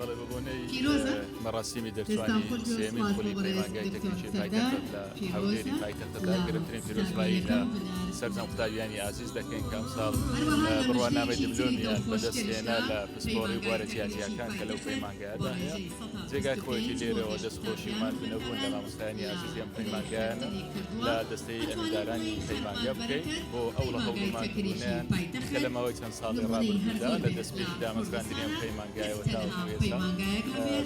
بەڵێ بە بۆنەی پیرۆزە مەڕاسیمی دەستان دەرچوانی خۆش بێ و سێمین سوپاس بۆ خولی بەڕێز پەیمانگای دکتۆر تەکنیکی سەردار پایتەختت لە هەولێری پیرۆزە پایتەختدا لە گرنگترین پیرۆزبایی لە قوتابییەکەم بنار سەرجەم کردم قوتابیانی ئازیز دەکەین کە ئەمساڵ هەروەها اه، بڕوانامەی نمایشێکی تری دبلۆمیان بەدەست دڵخۆشکەریش هێنا لە لە پسپۆڕی پەیمانگای بوارە تەکنیکی جیاجیاکان کە لەو پایتەختە بۆ پەیمانگایەدا هەیە ڕێژەی سەد جێگای هاوسەنگی خۆیەتی دەکەین بۆ لێرەوە گەشت دەستخۆشی و قوتابیان و ماندوو نەبوون لە خوێندکاران مامۆستایانی ئازیزی ئەم ئەمساڵیان دڵی پەیمانگایانە خۆشتری کردووە لە دەستەی ئەتوانین ئەمیندارانی بڵێین سەد پەیمانگە بکەین مامبەرەکەت بۆ ئەو ڕەهەڵ و پەیمانگای تەکنیکی ماندووبوونەیان پایتەخت کە لە ماوەی چەند ساڵی ڕابردوودا لە دەستپێکی دامەزراندنی ئەم پەیمانگایەوە تاوەکو ئێستا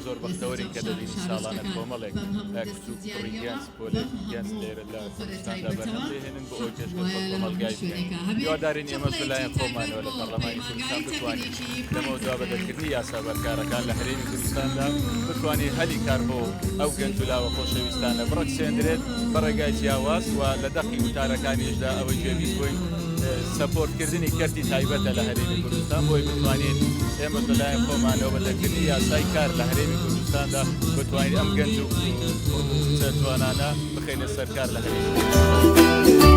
زۆر بەختەوەرین کە دەبینین ساڵانە کۆمەڵێک کچ و کوڕی گەنج پۆلێکی گەنج لێرە لە کوردستاندا بەرهەم دەهێنن بۆ ئەوەی پێشکەش بە کۆمەڵگای بکەین هیوادارین ئێمەش لەلایەن خۆمانەوە لە پەرلەمانی کوردستان بتوانین لەمەوە دوا بە دەرکردنی یاسا بەرکارەکان لە هەرێمی کوردستاندا بتوانین هەلی کار بۆ ئەو گەنج و لاوە خۆشەویستانە بڕەخسێندرێت بە ڕێگای جیاواز و لە دەقی وتارەکانیشدا ئەوەی گوێبیست بووین سەپۆرتکردنی کەرتی تایبەتە لە هەرێمی کوردستان بۆی بتوانین ئێمەش لە لایەن خۆمانەوە بە دەرکردنی یاسای کار لە هەرێمی کوردستاندا بتوانین ئەم گەنج و کوڕ و کچە جوانانە بخەینە سەر کار لە هەرێمی کوردستان.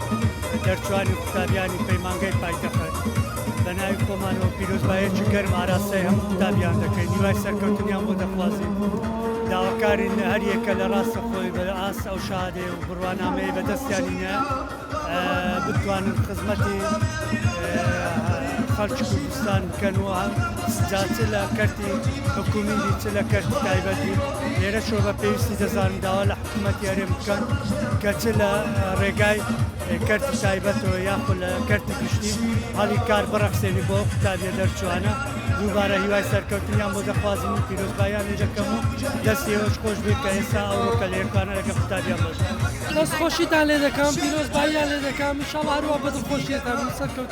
دەرچوانی و قوتابیانی پەیمانگەی پایتەخت بە ناوی خۆمانەوە پیرۆزبایەکی گەرم ئاراستای هەموو قوتابیان دەکەین نیوای سەرکەوتنیان بۆ دەخوازین داواکارین هەر یەکە لە ڕاستە خۆی بە ئاست ئەو شادێ و بڕوانامەیە بە دەستیانینە بتوانن خزمەتی خەڵکی کوردستان بکەن و جا چ لە کەرتی حکومیدی چ لە کەرتی تایبەتی لێرە شۆ بە پێویستی دەزان داوا لە مەتیارێن بکەن کە چ لە ڕێگای کەرتی تایبەتەوە یاخۆ لە کەرتی گشتی هەڵی کار بڕەخسێنی بۆ قوتابیە دەرچوانە دووبارە هیوای سەرکەوتنیان بۆ دەخوازم و پیرۆزبایانی دەکەم و دەستیەوەش خۆش بێت کە ئێستا ئەوڕۆکە لە یەکانە لەگە قوتابیان بەش دەست خۆشیتان لێ دەکەم پیرۆزباییان لێ دەکەم شەڵ هەروە بە دڵخۆشیێتان سەرکەوت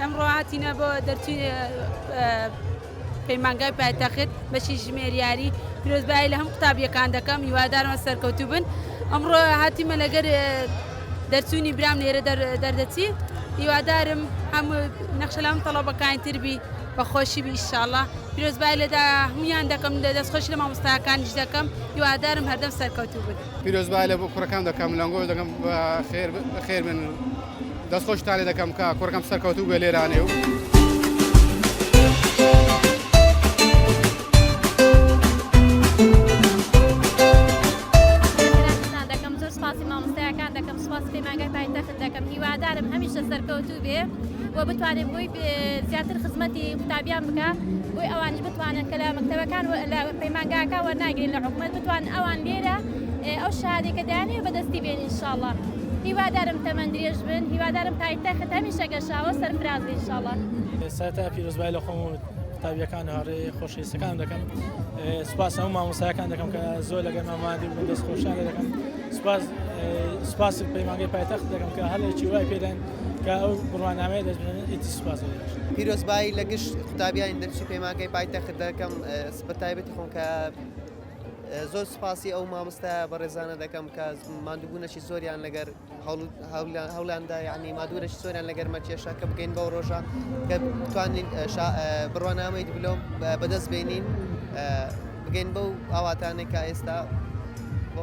ئەمڕۆ هاتینە بۆ دەرچی پەیمانگای پایتەخت بەشی ژمێریاری پیرۆزبایی لە هەم قوتابیەکان دەکەم هیوادارمە سەرکەوتوو بن ئەمڕۆ هاتیمە لەگەر دەرچوونی برام لێرە دەردەچی هیوادارم هەم نەخشەلام تەڵەبەکانی تربی بەخۆشی بیشاڵە پیرۆزبای لەدا هەمویان دەکەم لە دەستخۆش لە مامۆستاکانیش دەکەم هیوادارم هەردەم سەرکەوتوو بن پیرۆزبای لە بۆ کوڕەکان دەکەم لەنگۆ دەکەم خێر بن. دەست خۆش تانێ دەکەم کا کوڕەکەم سەرکەوتوو بێ لێرانێ و. بتوانێت بۆی زیاتر خزمەتی قوتابیان بکە بۆی ئەوانش بتوانن کە لە مەکتەبەکان لە پەیمانگاکە وەرناگرین لە حکومەت بتوان ئەوان لێرە ئەو شەهادەی کە دایانەوێ بەدەستی بێنی انشاءاللە هیوادارم تەمەن درێژ بن هیوادارم پایتەخت هەمیشە گەشاوە سەرفراز بی انشاءاللە. سەرەتا پیرۆزبایی لە خۆم و قوتابیەکان و هاوڕێ خۆشەویستەکانم دەکەم سوپاس هەموو مامۆستایەکان دەکەم کە زۆر لەگەر مامادی بوون دەست خۆشیان لێ دەکەم سوپاس سوپاس پەیمانگەی پایتەخت دەکەم کە هەڵێکی وای پێدان کە ئەو بڕوانامەیە دەستبێنن ئیدی سوپاس زۆر بەخش. پیرۆزبایی لە گشت قوتابیانی دەرچووی پەیمانگەی پایتەخت دەکەم بە تایبەتی خۆم کە زۆر سوپاسی ئەو مامۆستا بەڕێزانە دەکەم کە مادووبوونەی زۆریان لەگەر هەولانددا یعنی مادوورەی زۆریان لەگەر مەکێشە کە بگەین بەو ڕۆژە کە بتوانین بڕوانامەی دبلۆم بەدەست بینین بگەین بەو ئاواتانێک کە ئێستا بۆ